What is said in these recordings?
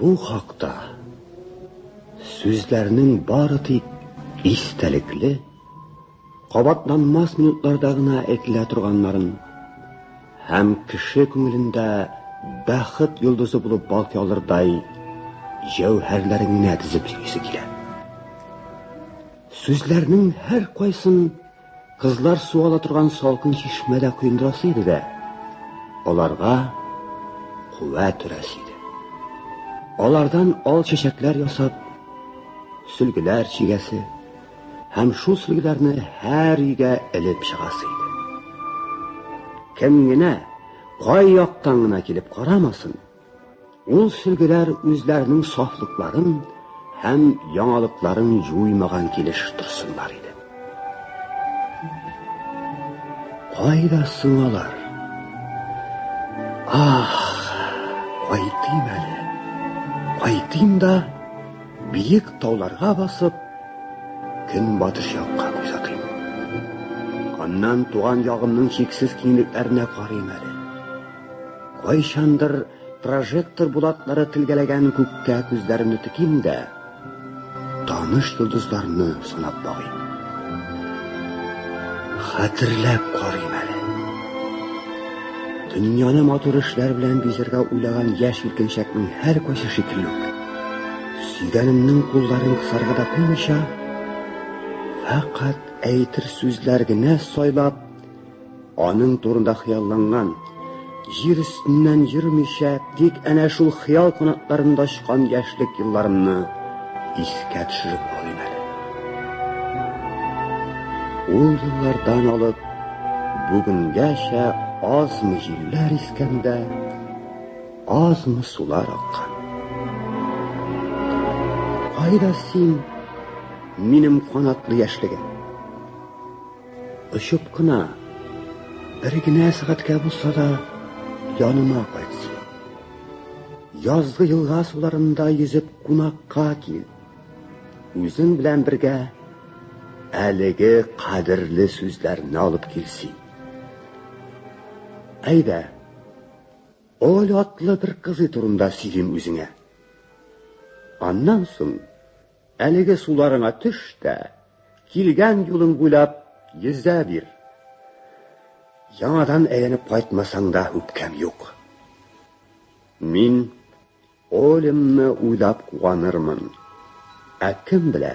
Бу хакта сүзләрнең бары тик истәлекле, кабатланмас минутларда гына әйтелә торганнарын һәм кеше күңелендә бәхет йолдызы булып балкый алырдай җәүһәрләреңне тезеп сөйлисе килә. Сүзләрнең һәр кайсын Кызлар су ала торган салкын чишмәдә коендырасы иде дә, аларга куәт өрәсе иде. Алардан ал чәчәкләр ясап, сөлгеләр чигәсе һәм шул сөлгеләрне һәр өйгә элеп чыгасы иде. Кем генә кай яктан гына килеп карамасын, Ул сөлгеләр үзләренең сафлыкларын һәм яңалыкларын җуймаган килеш торсыннар иде. Кайда сыңалар? Ах, кайтыйм әле. Кайтыйм да биек тауларга басып, көнбатыш якка күз атыйм. Аннан туган ягымның чиксез киңлекләренә карыйм әле. Кайчандыр прожектор булатлары тилгәләгән күккә күзләремне теким дә, таныш йолдызларны санап багыйм. Хәтерләп карыйм әле. Дөньяны матур эшләр белән бизәргә уйлаган яшь иркенчәкнең һәр кайсы шикелле үк. Сөйгәнемнең кулларын кысарга да куймыйча, фәкать әйтер сүзләр генә сайлап, Аның турында хыялланган, җир өстеннән йөрмичә, тик әнә шул хыял канатларында очкан яшьлек елларымны искә төшереп алыйм әле. Ул еллардан алып бүгенгәчә азмы җилләр искәндә, азмы сулар аккан. Кайда син, минем канатлы яшьлегем? Очып кына, бер генә сәгатькә булса да, яныма кайтсын. Язгы елга суларында йөзеп кунакка кил. Үзең белән бергә әлеге кадерле сүзләрне алып килсен. Әйдә, ул атлы бер кызы турында сөйлим үзеңә. Аннан соң Әлеге суларыңа төш тә, килгән юлың буйлап йөзә бир. Яңадан әйләнеп кайтмасаң да үпкәм юк. Мин Олемны уйлап куанырмын. Ә кем белә?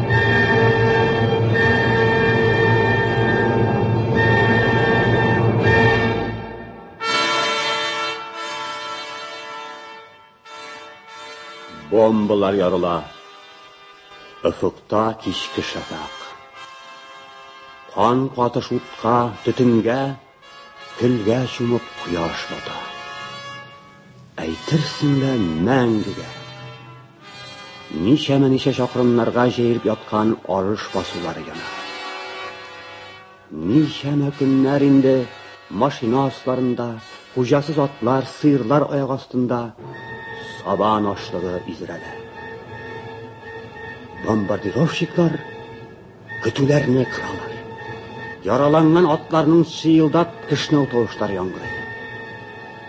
Бомбалар ярыла. Офыкта кичке шәфәкъ. Кан катыш утка, төтенгә Көлгә чумып кояш бата. Әйтерсең лә мәңгегә. Ничәмә ничә чакрымнарга җәелеп яткан арыш басулары яна. Ничәмә көннәр инде машина асларында, хуҗасыз атлар, сыерлар аяк астында сабан ашлыгы изрәлә. Бомбардировщиклар Көтүләрне кыралар. Яраланган атларның чыелдап кешнәү тавышлары яңгырый.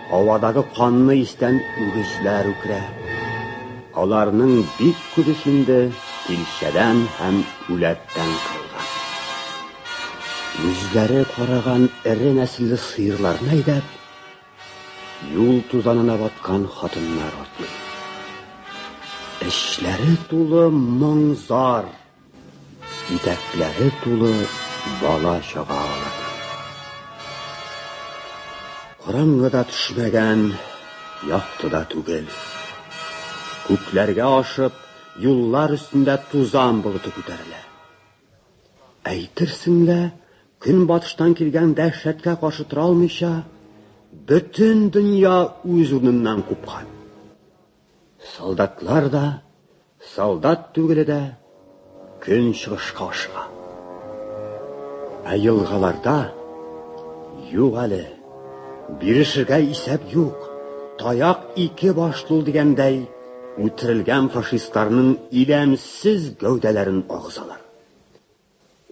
Һавадагы канны истән үгезләр үкрә. Аларның бик күбесендә тилчәдән һәм үләттән кырылган. Үзләре караган эре нәселле сыерларны әйдәп, юл тузанына баткан хатыннар атлый. Эшләре тулы моң-зар, Итәкләре тулы бала-чага алар. Караңгы да төшмәгән, якты да түгел. Күкләргә ашып, юллар өстендә тузан болыты күтәрелә. Әйтерсең лә, көнбатыштан килгән дәһшәткә каршы тора алмыйча, бөтен дөнья үз урыныннан купкан. Солдатлар да, солдат түгеле дә көн чыгышка ашыга. Ә елгаларда юк әле. Бирешергә исәп юк. Таяк ике башлы дигәндәй, үтерелгән фашистларның иләмсез гәүдәләрен агызалар.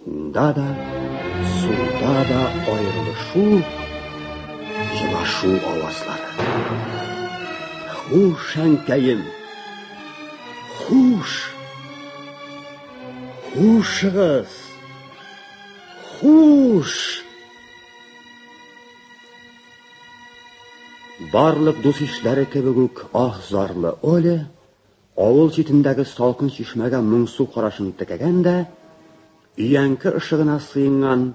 Уйнда да, суда да аерылышу, елашу авазлары. Хуш, әнкәем! Хуш! Хушыгыз! Хуш! Барлык дус ишләре кебек үк ах зарлы Оля Авыл читендәге салкын чишмәгә моңсу карашын текәгән дә, өянке ышыгына сыенган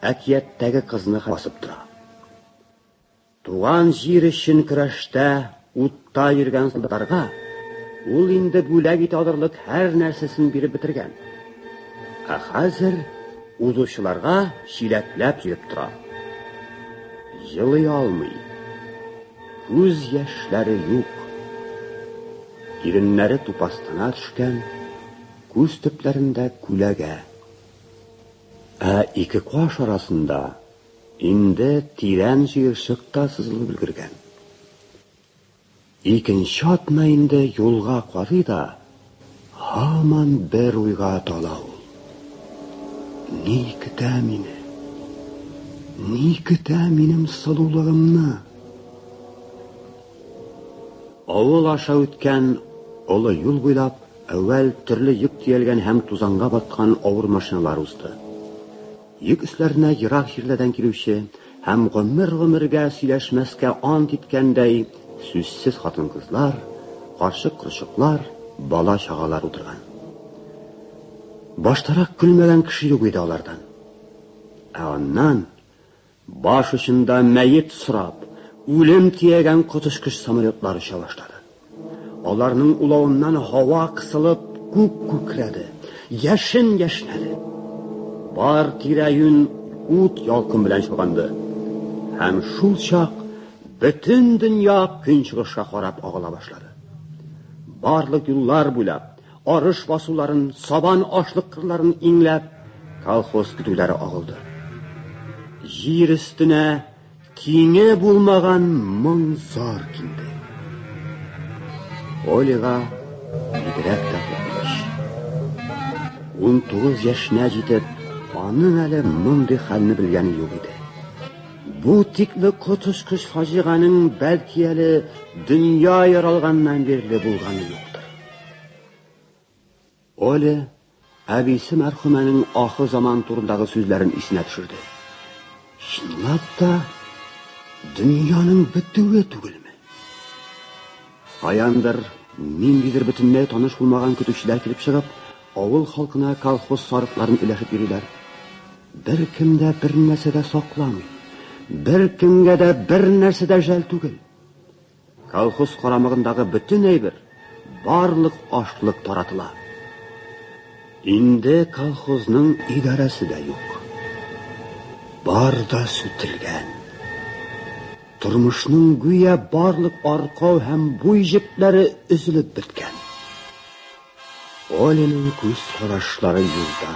әкияттәге кызны басып тора. Туган җир өчен көрәштә утта йөргән солдатларга ул инде бүләк итә алырлык һәр нәрсәсен биреп бетергән. Ә хәзер узучыларга чиләкләп йөреп тора. Җылый алмый. Күз яшьләре юк. Иреннәре тупастана төшкән, күз төпләрендә күләгә. Ә ике каш арасында инде тирән җыерчык та сызылып өлгергән. Икенче атна инде юлга карый да, Һаман бер уйга тала ул. Ни көтә мине? Ни көтә минем сылулыгымны? Авыл аша үткән олы юл буйлап әүвәл төрле йөк төялгән һәм тузанга баткан авыр машиналар узды. Йөк өсләренә ерак җирләрдән килүче һәм гомер-гомергә сөйләшмәскә ант иткәндәй сүзсез хатын-кызлар, карчык-корчыклар, бала-чагалар утырган. Баштарак көлмәгән кеше юк иде алардан. Ә аннан баш очында мәет сорап, үлем тиягән коточкыч самолетлар оча башлады. Аларның улавыннан һава кысылып, күк күкрәде, яшен яшнәде. Бар тирә-юнь ут ялкын белән чолганды. Һәм шул чак бөтен дөнья көнчыгышка карап агыла башлады. Барлык юллар буйлап, арыш басуларын, сабан ашлык кырларын иңләп, колхоз көтүләре агылды. Җир өстенә Тиңе булмаган моң зар килде. Олега бигрәк тә куркыныч. Ун тугыз яшенә җитеп, аның әле мондый хәлне белгәне юк иде. Бу тикле коточкыч фаҗиганең бәлки әле дөнья яралганнан бирле булганы юк. Оля әбисе мәрхүмәнең ахыр заман турындагы сүзләрен исенә төшерде. Чынлап та, дөньяның бетүе түгелме? Каяндыр, ниндидер бөтенләй таныш булмаган көтүчеләр килеп чыгып, авыл халкына колхоз сарыкларын өләшеп йөриләр. Бер кем дә бер нәрсә дә сакламый. Бер кемгә дә бер нәрсә дә жәл түгел. Колхоз карамагындагы бөтен әйбер, барлык ашлык таратыла. Инде колхозның идарәсе дә юк. Бар да сүтелгән. Тормышның гүя барлык аркау һәм буй җепләре өзелеп беткән. Оленең күз карашлары юлда.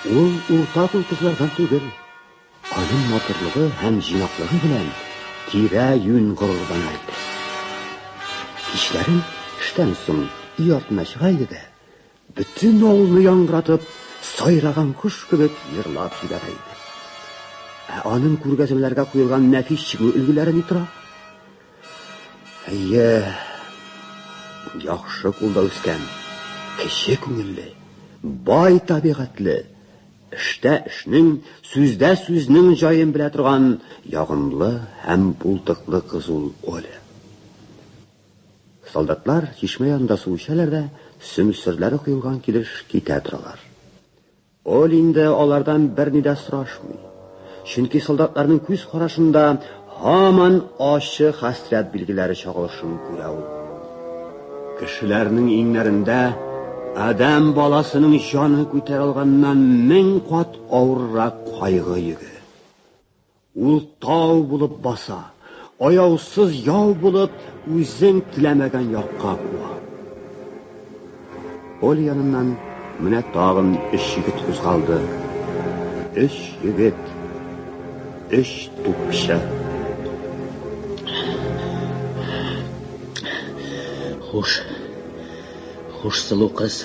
Ул урта кул кызлардан түгел. Аның матурлыгы һәм җыйнаклыгы белән тирә-юнь горурлана иде. Кичләрен эштән соң өй артына чыга иде дә, бөтен авылны яңгыратып, сайраган кош кебек җырлап җибәрә иде. Ә аның күргәзмәләргә куелган нәфис чигү өлгеләре ни тора? Әйе, яхшы кулда үскән, кеше күңелле, бай табигатьле, Эштә эшнең, сүздә сүзнең җаен белә торган ягымлы һәм булдыклы кыз ул Оля. Солдатлар чишмә янында су эчәләр дә, сөмсерләре коелган килеш китә торалар. Оля инде алардан берни дә сорашмый. Чөнки солдатларның күз карашында һаман ачы хәсрәт билгеләре чагылышын күрә ул. Кешеләрнең иңнәрендә адәм баласының җаны күтәрә алганнан мең кат авыррак кайгы йөге. Ул тау булып баса. Аяусыз яу булып, үзең теләмәгән якка куа. Поле яныннан менә тагын өч егет кузгалды. Өч егет. Өч тупча. Хуш. Хуш сылу кыз.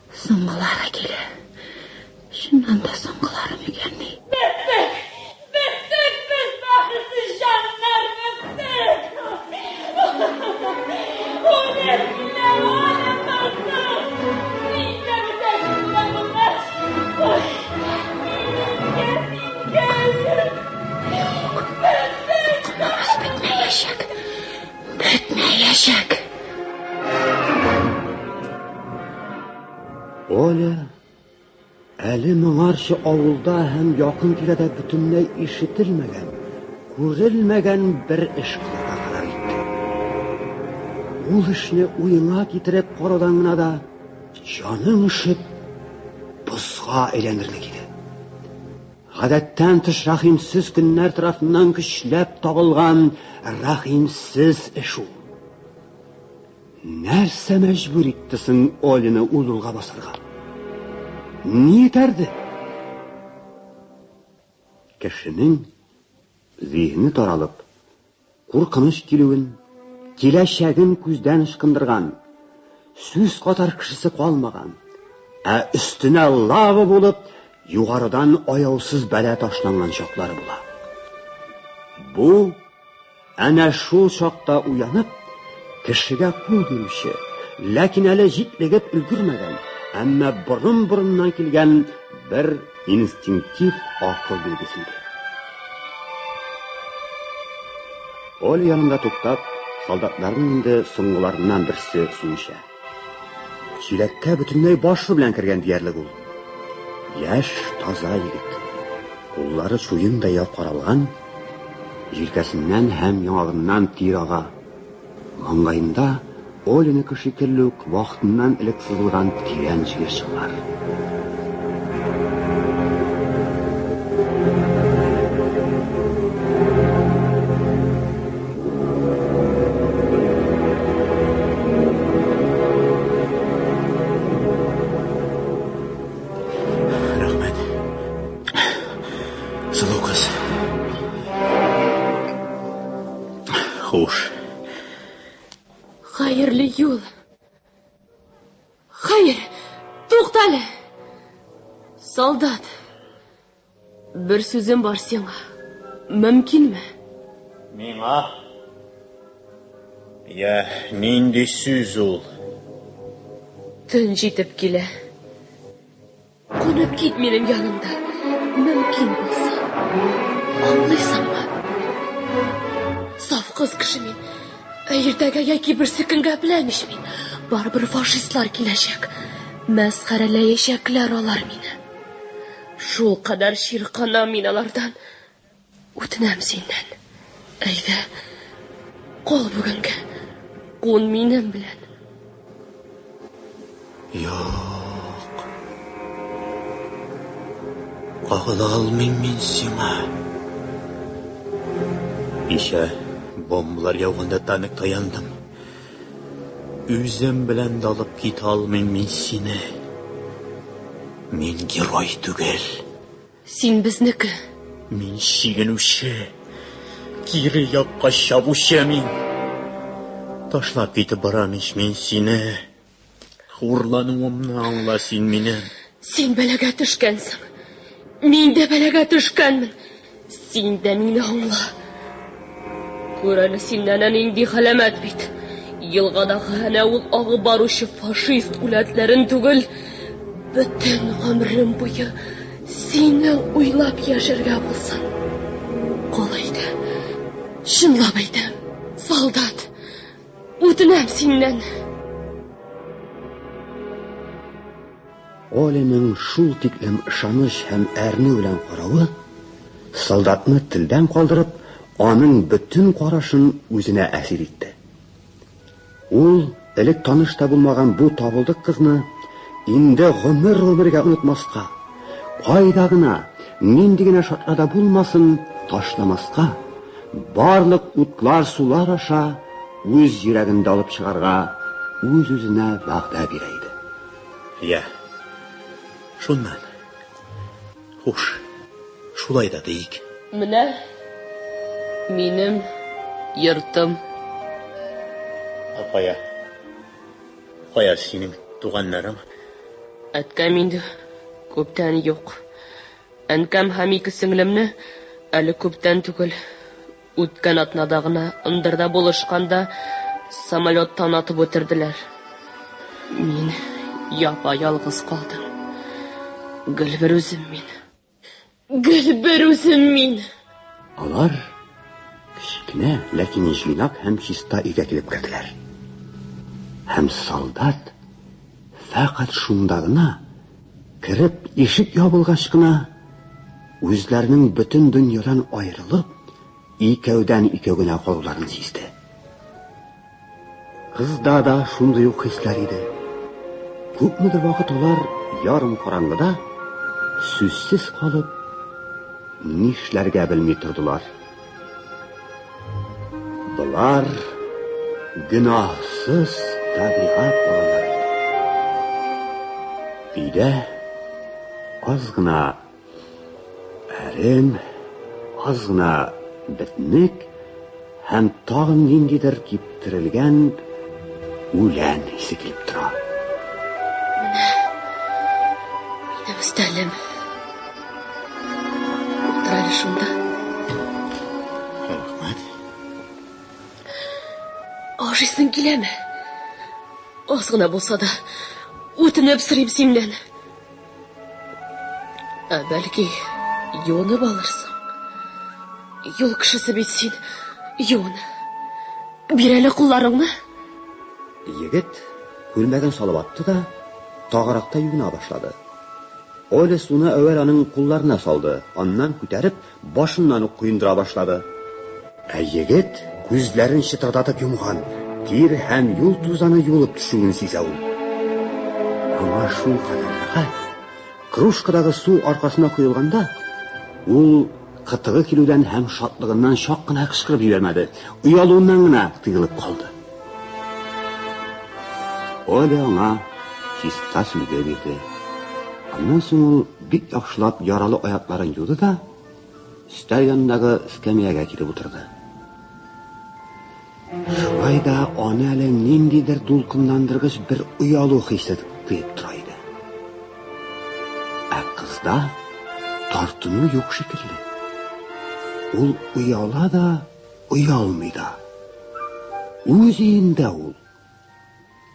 Соңгылары килә. Чыннан да соңгылары микәнни? Беттек! Беттек без, бәхетсез җаннар, беттек! Үлеп Бетмәячәк. Оля, әле моңарчы авылда һәм якын тирәдә бөтенләй ишетелмәгән, күрелмәгән бер эш кылырга карар итте. Ул эшне уеңа китереп караудан гына да җаның өшеп, бозга әйләнерлек иде. Гадәттән тыш рәхимсез көннәр тарафыннан көчләп табылган рәхимсез эш ул. Нәрсә мәҗбүр итте соң Олины ул юлга басарга? Ни этәрде? Кешенең зиһене таралып, Куркыныч килүен, киләчәген күздән ычкындырган, сүз катар кешесе калмаган, ә өстенә лава булып, югарыдан аяусыз бәла ташланган чаклары була. Бу әнә шул чакта уянып, кешегә кул бирүче, ләкин әле җитлегеп өлгермәгән, әмма борын-борыннан килгән бер Инстинктив акыл билгесе иде. Оля янында туктап, солдатларның инде соңгыларыннан берсе су эчә. Чиләккә бөтенләй башы белән кергән диярлек ул. Яшь, таза егет. Куллары суендай япкаралган, җилкәсеннән һәм яңагыннан тир ага. Маңгаенда Оленеке шикелле үк вакытыннан элек сызылган тирән җыерчык бар. Хуш. Хәерле юл. Хәер, туктале. Солдат. Бер сүзем бар сиңа. Мөмкинме? Миңа? Я, нинди сүз ул? Төн җитеп килә. Кунып кит минем янымда, мөмкин булса. Аңлыйсыңмы? Саф кыз кеше мин. Ә иртәгә яки берсе көнгә беләм ич мин. Барыбер фашистлар киләчәк. Мәсхәрәләячәкләр алар мине. Шул кадәр чирканам мин алардан. Үтенәм синнән, әйдә, кал бүгенгә, кун минем белән. Юк. Кагыла алмыйм мин сиңа. Кичә бомбалар яуганда тамик таяндым. Үзем белән дә алып китә алмыйм мин сине. Мин герой түгел. Син безнеке. Мин чигенүче, кире якка чабучы мин. Ташлап китеп барам ич мин сине. Хурлануымны аңла син минем. Син бәлагә төшкәнсең. Мин дә бәлагә төшкәнмен. Син дә мине аңла. Күр әле син әнә нинди галәмәт бит. Елгадагы әнә ул агып баручы фашист үләтләрен түгел, бөтен гомерем буе сине уйлап яшәргә булсын. Кол әйтә. Чынлап әйтәм, солдат. Үтенәм синнән. Оленең шул тиклем ышаныч һәм әрнү белән каравы, солдатны телдән калдырып, аның бөтен карашын үзенә әсир итте. Ул, элек таныш та булмаган бу табылдык кызны инде гомер-гомергә онытмаска, кайда гына, нинди генә шартларда булмасын, ташламаска, барлык утлар-сулар аша үз йөрәгендә алып чыгарга үз-үзенә вәгъдә бирә иде. Йә. Шуннан. Хуш. Шулай да диик. Менә минем йортым. Ә кая? Кая синең туганнарың? Әткәм инде күптән юк. Әнкәм һәм ике сеңлемне әле күптән түгел. Үткән атнада гына ындырда булышканда самолеттан атып үтерделәр. Мин япа-ялгыз калдым. Гел бер үзем мин. Гел бер үзем мин. Алар кечкенә, ләкин җыйнак һәм чиста өйгә килеп керделәр. Һәм солдат фәкать шунда гына Кереп, ишек ябылгач кына, үзләренең бөтен дөньядан аерылып, икәүдән-икәү генә калуларын сизде. Кызда да шундый ук хисләр иде. Күпмедер вакыт алар ярым караңгыда сүзсез калып, нишләргә белми тордылар. Болар гөнаһсыз табигать балалары. Өйдә аз гына әрем, аз гына битник һәм тагын ниндидер кип Терелгән үлән исе килеп тора. Менә минем өстәлем. Утыр әле шунда. Рәхмәт. Ашыйсың киләме? Аз гына булса да, үтенеп сорыйм синнән. Ә бәлки, юынып алырсың? Юл кешесе бит син. Юын. Бир әле кулларыңны. Егет күлмәген салып атты да, тагыракта юына башлады. Оля суны әүвәл аның кулларына салды, аннан күтәреп, Башыннан ук коендыра башлады. Ә егет күзләрен чытырдатып йомган, тир һәм юл тузаны юылып төшүен сизә ул. Аңа шулкадәр рәхәт. Кружкадагы су аркасына коелганда, ул кытыгы килүдән һәм шатлыгыннан чак кына кычкырып җибәрмәде, оялуыннан гына тыелып калды. Оля аңа чиста сөлге бирде. Аннан соң ул Бик яхшылап яралы аякларын юды да, өстәл янындагы эскәмиягә килеп утырды. Шулай да аны әле ниндидер дулкынландыргыч бер оялу хисе тыеп тора иде. Ә кызда тартыну юк шикелле. Ул ояла да, оялмый да. Үз өендә ул.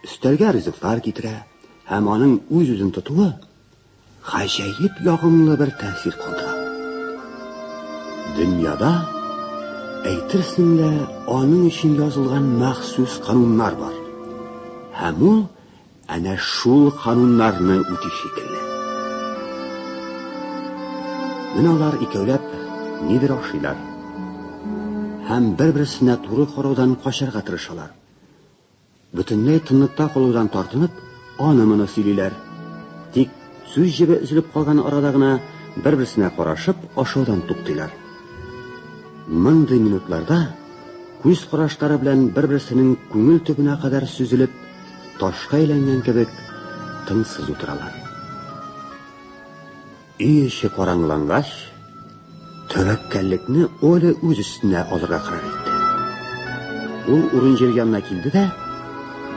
Өстәлгә ризыклар китерә һәм аның үз-үзен тотуы Гаҗәеп ягымлы бер тәэсир калдыра. Дөньяда, әйтерсең лә, аның өчен язылган махсус кануннар бар. Һәм ул әнә шул кануннарны үти шикелле. Менә алар икәүләп нидер ашыйлар һәм бер-берсенә туры караудан качарга тырышалар. Бөтенләй тынлыкта калудан тартынып, аны-моны сөйлиләр. Тик сүз җебе өзелеп калган арада гына бер-берсенә карашып ашаудан туктыйлар. Мондый минутларда күз карашлары белән бер-берсенең күңел төбенә кадәр сөзелеп, ташка әйләнгән кебек тынсыз утыралар. Өй эче караңгылангач, тәвәккәллекне Оля үз өстенә алырга карар итте. Ул урын җир янына килде дә,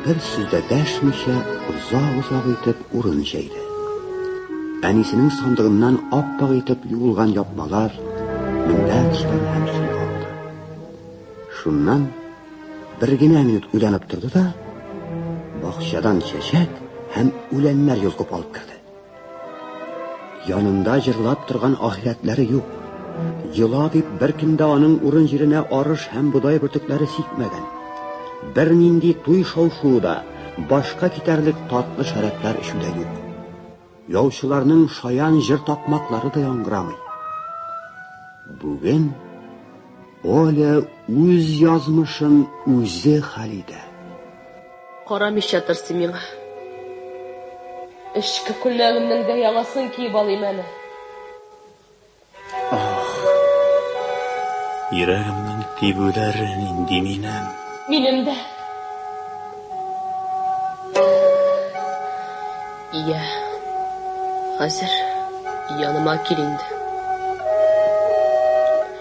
бер сүз дә дәшмичә, озак-озак итеп урын җәйде. Әнисенең сандыгыннан аппак итеп юылган япмалар, мендәчләр һәм су алды. Шуннан бер генә минут уйланып торды да, бакчадан чәчәк һәм үләннәр йолкып алып керде. Янында җырлап торган ахирәтләре юк. Йола дип беркемдә аның урын җиренә арыш һәм бодай бөртекләре сикмәгән. Бернинди туй шау-шуы да, башка китәрлек татлы шәрәпләр эчү дә юк. Яучыларның шаян җыр такмаклары да яңгырамый. Бүген Оля үз язмышын үзе хәл итә. Карамыйча тырсыйм миңа. Эчке күлмәгемнең дә яңасын киеп алыйм әле. Ах. Йөрәгемнең тибүләре нинди минем. Минем дә. Йә, хәзер яныма кил инде.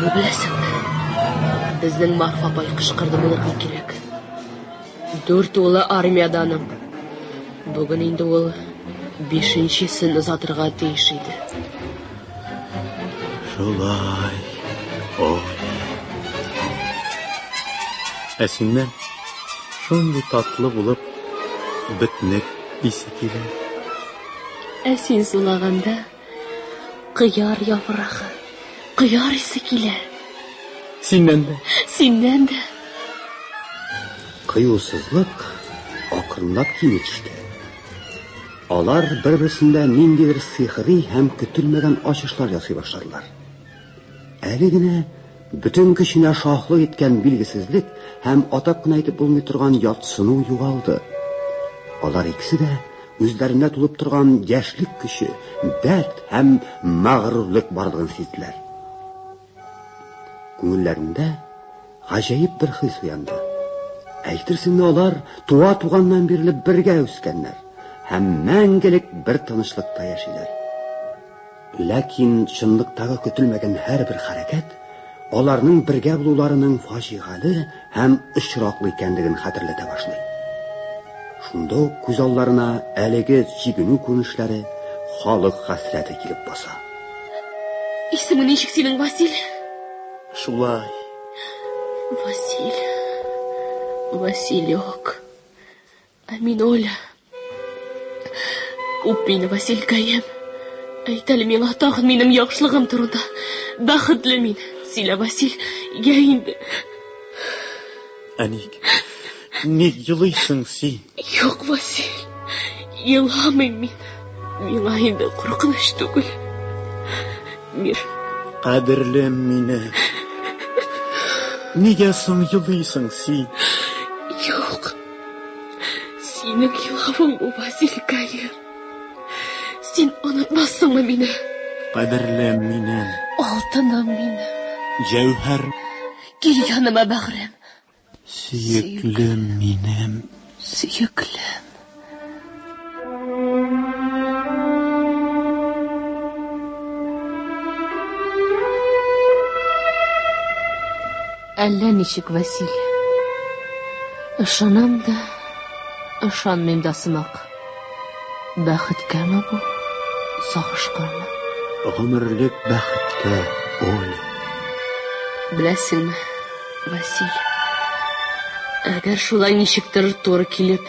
Бу берәсен. Безнең Марфа апай кычкырды, моныкы кирәк. Дүрт улы армиядә аның. Бүген инде ул бишенчесен озатырга тиеш иде. Шулай. Әсиннән шундый татлы булып бөтнек исе килә. Әсин сулаганда Кыяр яфрагы, кыяр исе килә. Синнән дә. Синнән дә. Кыюсызлык акрынлап кими төште. Алар бер-берсендә ниндидер сихри һәм көтелмәгән ачышлар ясый башладылар. Әле генә бөтен көченә шаһлык иткән билгесезлек һәм атап кына әйтеп булмый торган ятсыну югалды. Алар икесе дә үзләрендә тулып торган яшьлек көче, дәрт һәм мәгърурлык барлыгын сизделәр. Күңелләрендә гаҗәеп бер хис уянды. Әйтерсең алар туа туганнан бирле бергә үскәннәр һәм мәңгелек бер тынычлыкта яшиләр. Ләкин чынлыктагы көтелмәгән һәрбер хәрәкәт аларның бергә булуларының фаҗигале һәм очраклы икәнлеген хәтерләтә башлый. Шунда ук күз алларына әлеге чигенү күренешләре, халык хәсрәте килеп баса. Исеме ничек синең, Василь? Шулай. Василь. Василек. Ә мин Оля. Үп мине, Василькаем. Әйт әле миңа тагын минем яхшылыгым турында. Бәхетле мин. Сөйлә, Васил, йә инде. Ә ник? Ник елыйсың син? Юк, Васил. Еламыйм мин. Миңа инде куркыныч түгел. Мир. Кадерлем мине. Нигә соң елыйсың син? Синең елавың бу, Василий Калер. Син онытмассыңмы мине? Кадерлем минем. Алтыным минем. Җәүһәр. Кил яныма, бәгърем. Сөеклем минем. Сөеклем. Әллә ничек, Василь. Ышанам да, ышанмыйм да сымак. Бәхеткәме бу? Сагышканмы? Гомерлек бәхеткә, Оля. Беләсеңме, Василь? Әгәр шулай ничектер туры килеп,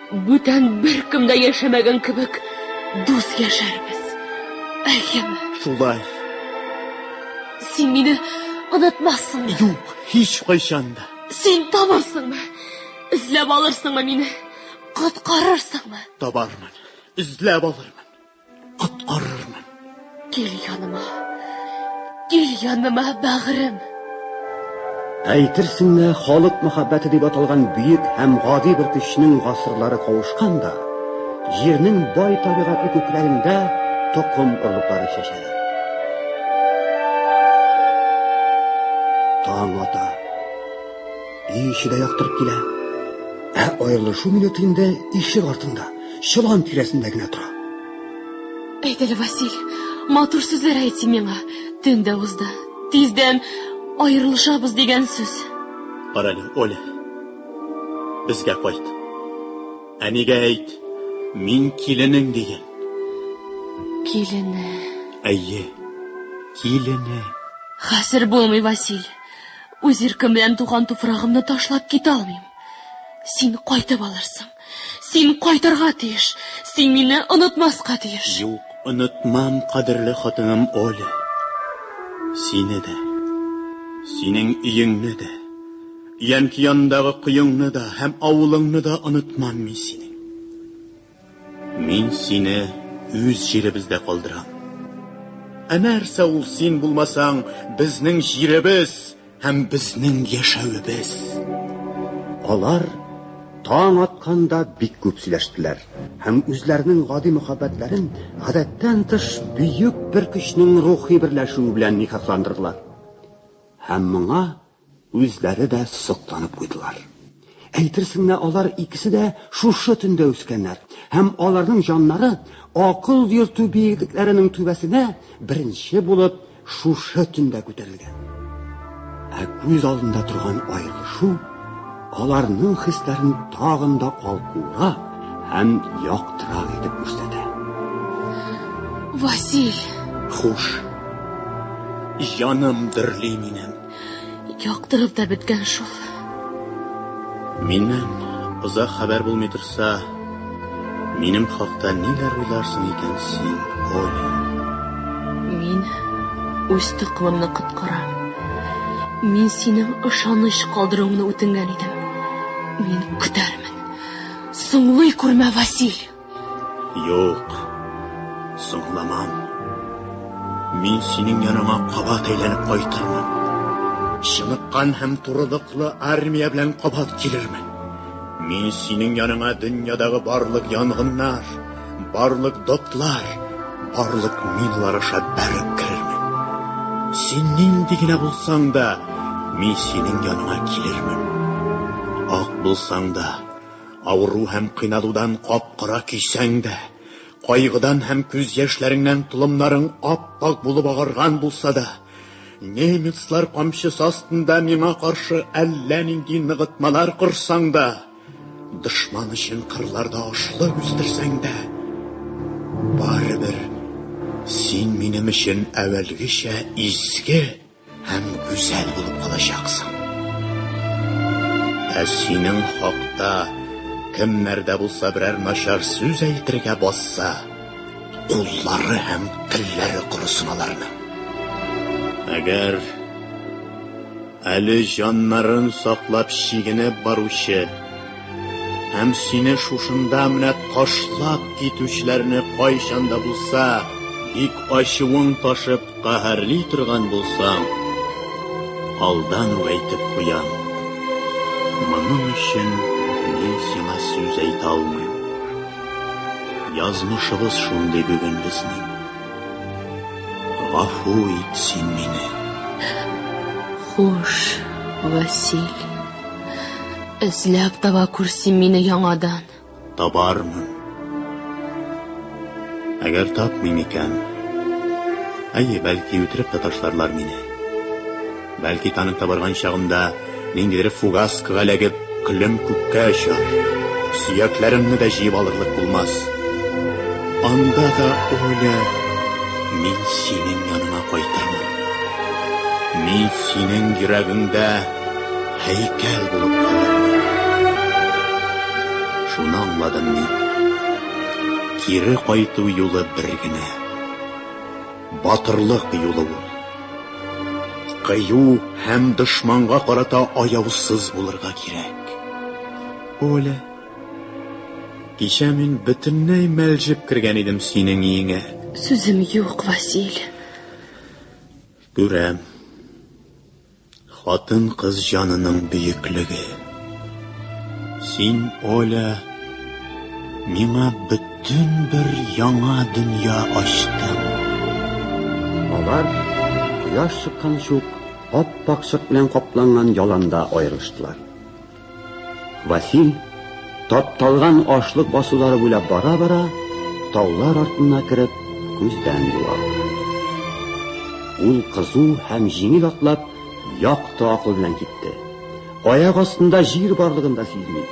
Бүтән беркем дә яшәмәгән кебек дус яшәрбез. Әйеме? Шулай. Син мине онытмассыңмы? Юк, һич кайчан да. Син табарсыңмы? Эзләп алырсыңмы мине? Коткарырсыңмы? Табармын. Эзләп алырмын. Коткарырмын. Кил яныма. Кил яныма, бәгырем. Әйтерсең лә, халык мәхәббәте дип аталган бөек һәм гади бер көчнең гасырлары кавышкан да, җирнең бай табигатьле күкләрендә токым орлыклары чәчәләр. Таң ата. Өй эче дә яктырып килә. Ә аерылышу минуты инде ишек артында. чолан тирәсендә генә тора. Әйт әле, Василь, матур сүзләр әйт син миңа. Төн дә узды. Тиздән аерылышабыз дигән сүз. Кара әле, Оля. Безгә кайт. Әнигә әйт, мин киленең диген. Килене. Әйе, килене. Хәзер булмый, Василь. Үз иркем белән туган туфрагымны ташлап китә алмыйм. Син кайтып алырсың. Син кайтырга тиеш. Син мине онытмаска тиеш. Юк, онытмам, кадерле хатыным Оля. Сине дә, синең өеңне дә, өянке янындагы коеңны да һәм авылыңны да онытмам мин синең. Мин сине үз җиребездә калдырам. Ә нәрсә ул син булмасаң, безнең җиребез? Һәм безнең яшәвебез. Алар таң атканда бик күп сөйләштеләр һәм үзләренең гади мөхәббәтләрен гадәттән тыш бөек бер көчнең рухи берләшүе белән никахландырдылар. Һәм моңа үзләре дә сокланып куйдылар. Әйтерсең лә алар икесе дә шушы төндә үскәннәр, һәм аларның җаннары акыл йөртү биеклекләренең түбәсенә беренче булып шушы төндә күтәрелгән. Ә күз алдында торган аерылышу аларның хисләрен тагын да калкуырак һәм яктырак итеп күрсәтә. Василь! Хуш. Җаным дөрли минем. Яктырып та беткән шул. Миннән озак хәбәр булмый торса, минем хакта ниләр уйларсың икән син, Оля? Мин үз токымымны коткарам. Мин синең ышаныч калдыруыңны үтенгән идем. Мин көтәрмен. Соңлый күрмә, Василь! Юк, соңламам. Мин синең яныңа кабат әйләнеп кайтырмын. Чыныккан һәм турылыклы армия белән кабат килермен. Мин синең яныңа дөньядагы барлык янгыннар, барлык дотлар, барлык миналар аша бәреп керермен. Син нинди генә булсаң да, мин синең яныңа килермен. Ак булсаң да, Авыру һәм кыйналудан кап-кара көйсәң дә, кайгыдан һәм күз яшьләреңнән толымнарың ап-ак булып агарган булса да, немецлар камчысы астында миңа каршы әллә нинди ныгытмалар корсаң да, дошман өчен кырларда ашлык үстерсәң дә, барыбер син минем өчен әвәлгечә изге, Һәм гүзәл булып калачаксың. Ә синең хакта кемнәр дә булса берәр начар сүз әйтергә басса, куллары һәм телләре корысын аларның. Әгәр әле җаннарын саклап чигенеп баручы һәм сине шушында менә ташлап китүчеләрне кайчан да булса бик ачуың ташып Каһәрли торган булсам, алдан ук әйтеп куям. Моның өчен мин сиңа сүз әйтә алмыйм. Язмышыбыз шундый бүген безнең. Гафу ит син мине. Хуш, Василь. Эзләп таба күр син мине яңадан. Табармын. Әгәр тапмыйм икән, әйе, бәлки үтереп тә ташларлар мине. Бәлки танып та барган чагымда ниндидер фугаскага эләгеп, көлем күккә очар. Сөякләремне дә җыеп алырлык булмас. Анда да, Оля, мин синең яныңа кайтырмын. Мин синең йөрәгеңдә һәйкәл булып калырмын. Шуны аңладым мин. Кире кайту юлы бер генә. Батырлык юлы ул. Кыю һәм дошманга карата аяусыз булырга кирәк. Оля, кичә мин бөтенләй мәлҗеп кергән идем синең өеңә. Сүзем юк, Василь. Күрәм. Хатын-кыз җанының бөеклеге. Син, Оля, миңа бөтен бер яңа дөнья ачтың. Алар, кояш чыкканчы ук, ап-ак чык белән капланган яланда аерылыштылар. Василь тапталган ашлык басулары буйлап бара-бара, таулар артына кереп, күздән югалды. Ул кызу һәм җиңел атлап, якты акыл белән китте. Аяк астында җир барлыгын да сизми.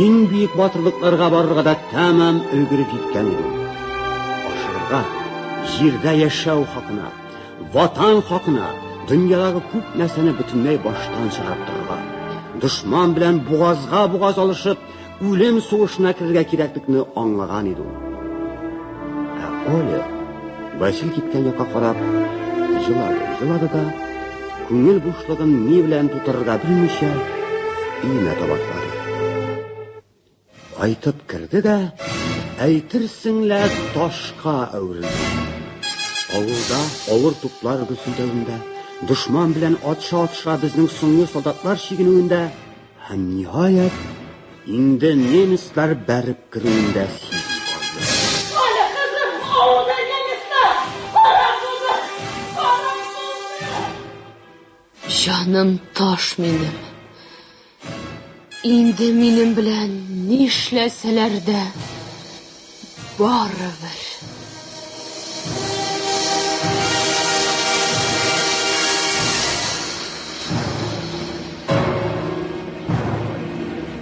Иң бөек батырлыкларга барырга да тәмам өлгереп җиткән иде. Ашырга, җирдә яшәү хакына, Ватан хакына дөньядагы күп нәрсәне бөтенләй баштан чыгарып торырга, дошман белән бугазга бугаз алышып, үлем сугышына керергә кирәклекне аңлаган иде ул. Ә Оля Васил киткән якка карап елады, елады да күңел бушлыгын ни белән тутырырга белмичә, өенә таба Кайтып керде дә, әйтерсең лә ташка әверелде. Авылда авыр туплар гөсүдәвендә, дошман белән атша-атша безнең соңгы солдатлар чигенүендә һәм ниһаять инде немецлар бәреп керүендә сизде. Җаным таш минем. Инде минем белән нишләсәләр дә, барыбер.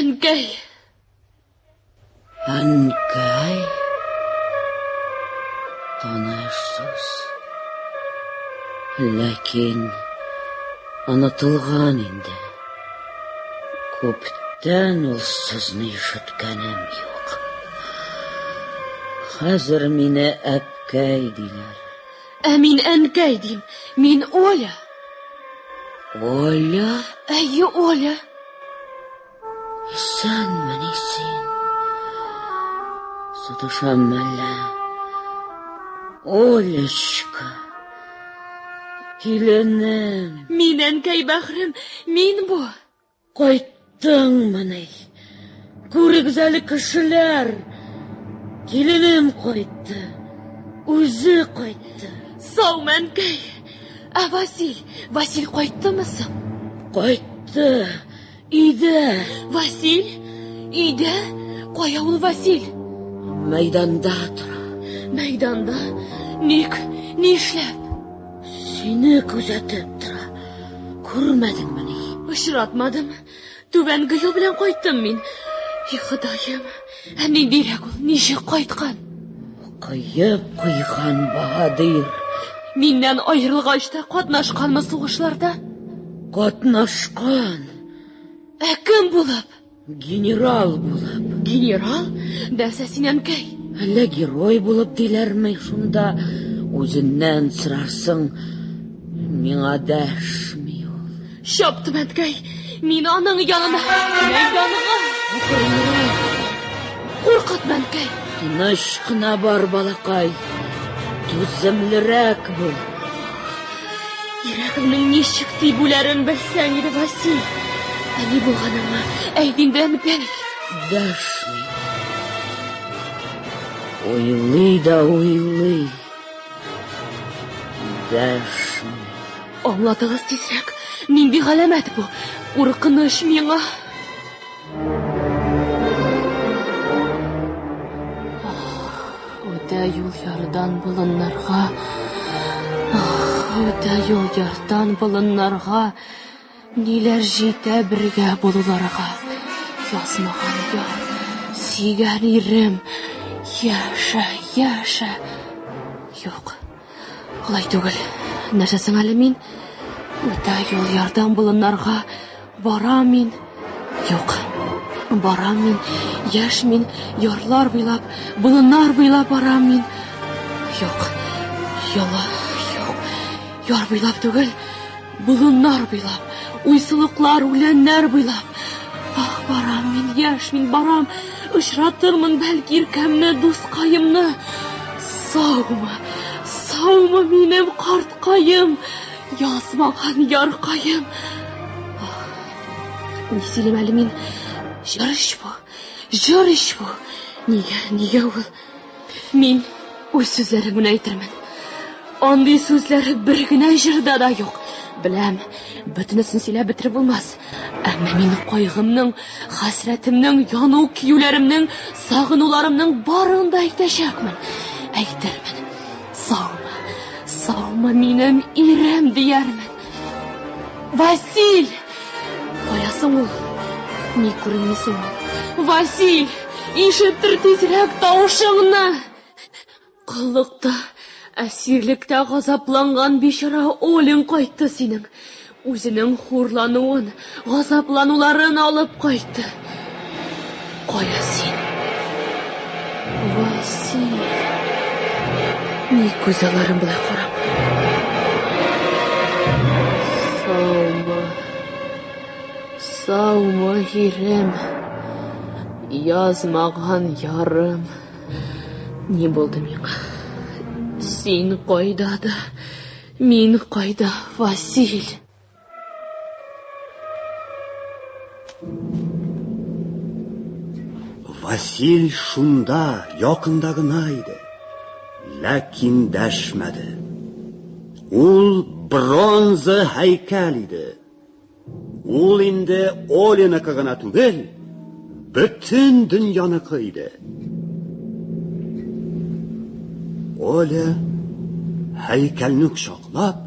Әнкәй! Әнкәй! Таныш сүз. Ләкин онытылган инде. Күптән ул сүзне ишеткәнем юк. Хәзер мине әткәй диләр. Ә мин әнкәй дим. Мин Оля. Оля? Әйе, Оля. Исәнмени син? Саташам әллә? Олечка. Киленем. Мин әнкәй бәхрем, мин бу. Кайттыңмыни? Күрегез әле кешеләр. Киленем кайтты. Үзе кайтты. Сау мәнкәй. Ә Василь, Василь кайттымы соң? Кайтты. Өйдә. Василь? Өйдә? Кая ул Василь? Мәйданда тора. Мәйданда? Ник? Ни эшләп? Сине күзәтеп тора. Күрмәдеңмени? Очратмадым. Түбән Гыю белән кайттым мин. И, Ходаем! Ә ниндирәк ул? Ничек кайткан? Кыеп куйган баһадир. Миннән аерылгач та катнашканмы сугышларда? Катнашкан. Ә кем булып? Генерал булып. Генерал? Дәсә син әнкәй. Әллә герой булып диләрме шунда? Үзеннән сорарсың. Миңа дәшми ул. Чапты Мәткәй. Мин аның янына. Мин янына. Куркыт Мәткәй. Тыныч кына бар, балакай. Түземлерәк бул. Йөрәгемнең ничек тибүләрен белсәң иде, Василь. Ә ни булганыңны әйт инде, Әнкәй. Дәшми. Уйлый да уйлый. Дәшми. Аңлатыгыз тизрәк. Нинди галәмәт бу? Куркыныч миңа. Үтә юл ярдан болыннарга. Үтә юл ярдан болыннарга. Ниләр җитә бергә булуларга, Язмаган яр, сөйгән ирем, Яшә, яшә! Юк, алай түгел. Нәрсә соң әле мин? Үтә юл ярдан болыннарга Барам мин. Юк, барам мин, Яшь мин, ярлар буйлап, Болыннар буйлап барам мин. Юк, йола, юк, Яр буйлап түгел. Болыннар буйлап, уйсылыклар, үләннәр буйлап. Ах, барам мин, яшь мин, барам. Очратырмын, бәлки, иркәмне, дускаемны. Саумы, саумы минем карткаем, язмаган яркаем. Ах, ни сөйлим әле мин? Җыр ич бу, җыр ич бу. Нигә, нигә ул? Мин үз сүзләрем генә әйтермен. Андый сүзләр бер генә җырда да юк. Беләм, бөтенесен сөйләп бетереп булмас. Әмма мин кайгымның, хәсрәтемнең, яну киюләремнең, сагынуларымның барын да әйтәчәкмен. Әйтермен. Саумы, саумы минем ирем, диярмен. Василь! Кая соң ул? Ни күренми соң ул? Василь! Ишеттер тизрәк тавышыңны! Коллыкта, әсирлектә газапланган бичара Олең кайтты синең. Үзенең хурлануын, Газаплануларын алып кайтты. Кая син? Васил. Ни күз аларын белән карап. Саумы. Саумы, ирем. Язмаган ярым. Ни булды миңа? Син кайда да, мин кайда, Василь? Васил шунда, якында гына иде. Ләкин дәшмәде. Ул бронза һәйкәл иде. Ул инде Олиныкы гына түгел, бөтен дөньяныкы иде. Оля һәйкәлне кочаклап,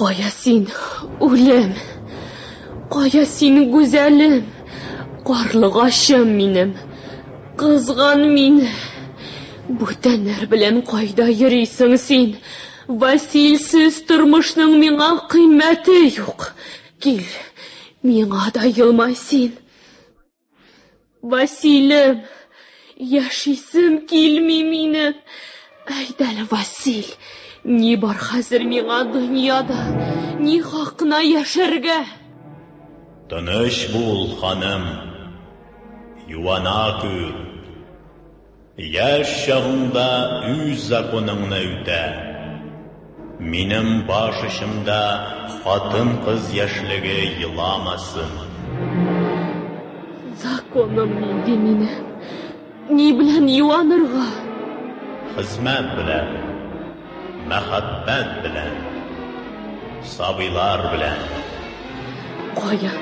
Кая син, үлем? Кая син, гүзәлем? Карлыгачым минем, кызган мине. Бүтәннәр белән кайда йөрисең син? Василсез тормышның миңа кыйммәте юк. Кил, миңа да елмай син. Василем, яшисем килми мине. Әйт әле, Василь, ни бар хәзер миңа дөньяда? Ни хакына яшәргә? Тыныч бул, ханым. Юана күр. Яшь чагыңда үз законыңны үтә. Минем баш очымда хатын-кыз яшьлеге еламасын. Законым нинди мине? Ни белән юанырга? Хезмәт белән. Мәхәббәт белән. Сабыйлар белән. Кая?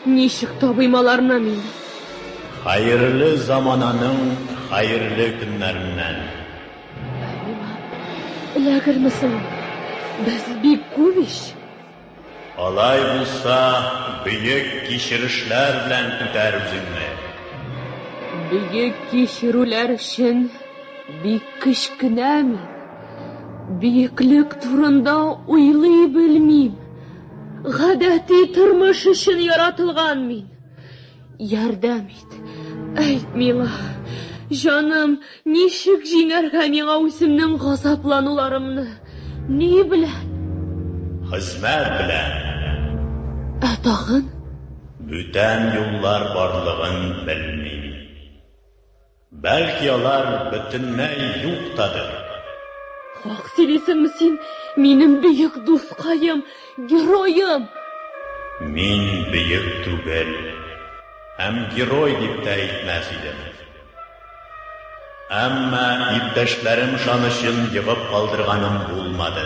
Ничек табыйм аларны мин? Хәерле замананың хәерле көннәреннән! Алима, эләгерме соң ул? Без бик күп ич! Алай булса, бөек кичерешләр белән күтәр үзеңне! Бөек кичерүләр өчен бик кечкенә мин. Бөеклек турында уйлый белмим. Гадәти тормыш өчен яратылган мин. Ярдәм ит. Әйт, мила. Җаным, ничек җиңәргә миңа үземнең газаплануларымны? Ни белән? Хезмәт белән. Ә тагын? Бүтән юллар барлыгын белмим. Бәлки алар бөтенләй юк тадыр? Хак сөйлисеңме син, минем бөек дускаем, героем! Мин бөек түгел, һәм герой дип тә әйтмәс идем. Әмма иптәшләрем шанычын егып калдырганым булмады.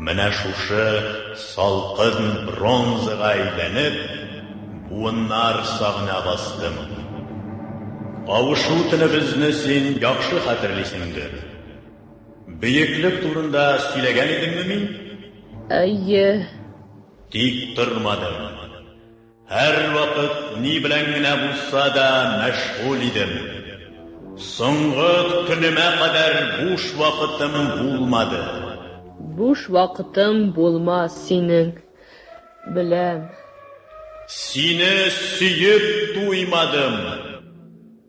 Менә шушы салкын бронзага әйләнеп, буыннар сагына бастым. Кавышу төнебезне син яхшы хәтерлисеңдер. Бөеклек турында сөйләгән идемме мин? Әйе. Тик тормадым. Һәрвакыт ни белән генә булса да мәшгуль идем. Соңгы көнемә кадәр буш вакытым булмады. Буш вакытым булмас синең белән. Сине сөеп туймадым.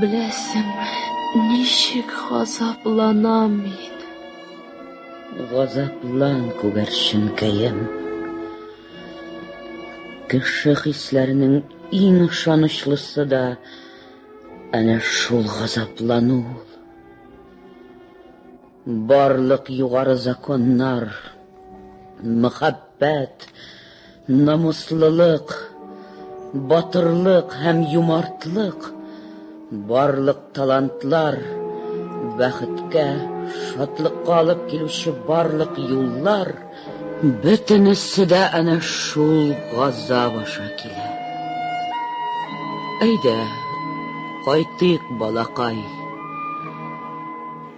Беләсеңме, ничек газапланам мин? Газаплан, күгәрченкәем. Кеше хисләренең иң ышанычлысы да әнә шул газаплану. Барлык югары законнар, мөхәббәт, намуслылык, батырлык һәм юмартлык, барлык талантлар, бәхеткә, шатлыкка алып килүче барлык юллар, бөтенесе дә әнә шул газап аша килә. Әйдә, кайтыйк, балакай.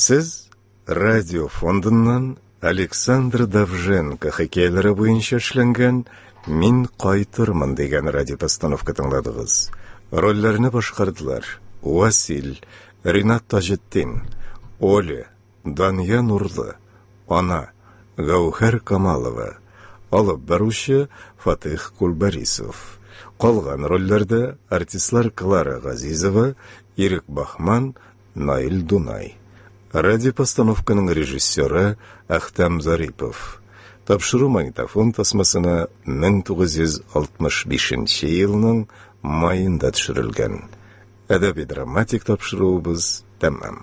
Сез радио фондыннан Александр Давженко хикәяләре буенча эшләнгән Мин кайтырмын дигән радиопостановка тыңладыгыз. Рольләрне башкардылар Васил, Ринат Таҗетдин, Оля, Дания Нурлы, ана, Гәүһәр Камалова, алып баручы Фатыйх Кулбарисов. Калган рольләрдә артистлар Клара Газизова, Ирек Бахман, Наил Дунай. Радиопостановканың режиссеры Әхтәм Зарипов. Тапшыру магнитофон тасмасына 1965 елның маенда төшерелгән. Әдәби-драматик тапшыруыбыз тәмам.